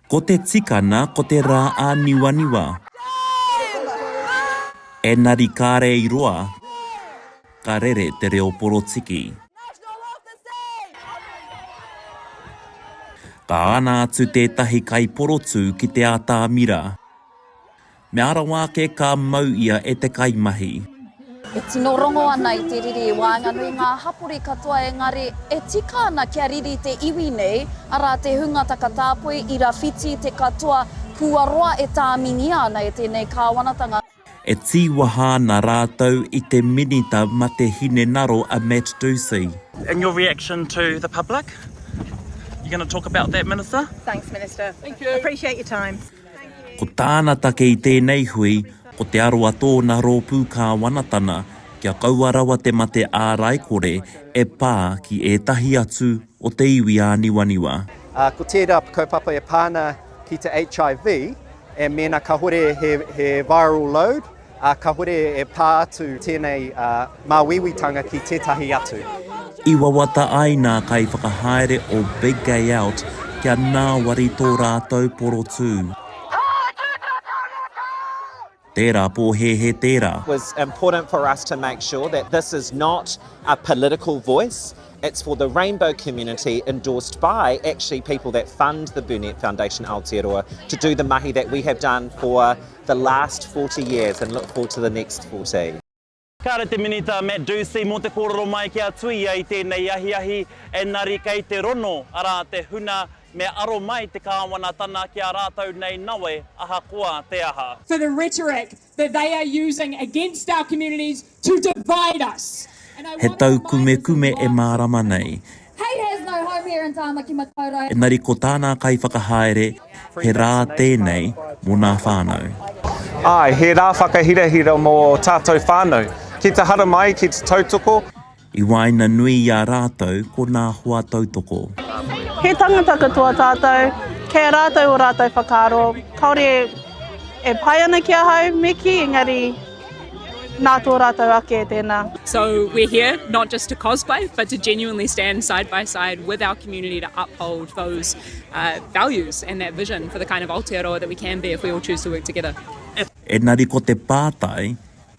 Ko te tikana ko te rā ā niwaniwa. Enari kare i roa ka rere te reo porotiki. Ka ana atu tētahi kaiporotū ki te atamira. Me arawa ake ka mau ia e te kaimahi. E tino rongo ana i te riri i waenganui ngā hapori katoa engari e tika ana kia riri te iwi nei, arā te hunga takatāpoi i rawhiti te katoa kua roa e tāmingia ana e tēnei kāwanatanga. E tīwaha ana rātou i te minita ma te hinengaro a Matt Dusey. And your reaction to the public? You gonna talk about that minister? Thanks minister. Thank you. Appreciate your time. Ko tāna take i tēnei hui, ko te aro a tōna rōpū kāwanatana kia kaua rawa te mate āraikore e pā ki ētahi atu o te iwi āniwaniwa. Ā, ko tērā kaupapa e pā ana ki te HIV, e mēnā kāhore he viral load, Ā, kāhore e pā atu tēnei māuiuitanga ki tētahi atu. I wawata ai nā kaiwhakahaere o Big Gay Out kia ngāwari tō rātou porotū. Tērā pōhēhē tērā. was important for us to make sure that this is not a political voice, it's for the rainbow community endorsed by actually people that fund the Burnet Foundation Aotearoa to do the mahi that we have done for the last forty years and look forward to the next forty. Kāre te Minita Matt Dusey mō te kōrero mai kia tuia i tēnei ahiahi engari kei te rono arā te huna me aro mai te Kāwanatana ki a rātou nei nawe ahakoa te aha. for the rhetoric that they are using against our communities, to divide us and I want to remind us all He tau kumekume e mārama nei. He has no home here in Tāmaki Makaurau. Engari ko tānā kaiwhakahaere he rā tēnei mō nā whānau. Āe, he rā whakahirahira mō tātou whānau. Ki te haramai, ki te tautoko. I waenganui i a rātou ko nā hoa tautoko. He tangata katoa tātou, kei a rātou o rātou whakaaro, kāore e pai ana ki ahau, me kī, engari nā tō rātou ake tēnā. So we're here not just to cosplay but to genuinely stand side by side with our community to uphold those values and that vision for the kind of Aotearoa that we can be if we all choose to work together. Engari ko te pātai,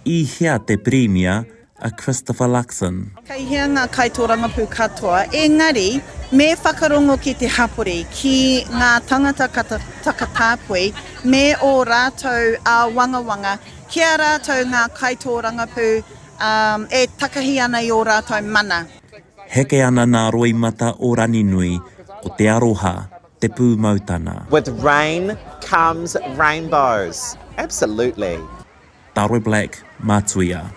i hea te Pirimia, a Christopher Luxon. Kei hea ngā kaitōrangapū katoa, engari me whakarongo ki te hapori, ki ngā tāngata takatāpui me ō rātou āwangawanga ki a rātou ngā kaitōrangapū e takahi ana i ō rātou mana. Heke ana nā roimata o Raninui ko te aroha, te pūmautana. With rain comes rainbows. Absolutely. Daroi Black, Matuia.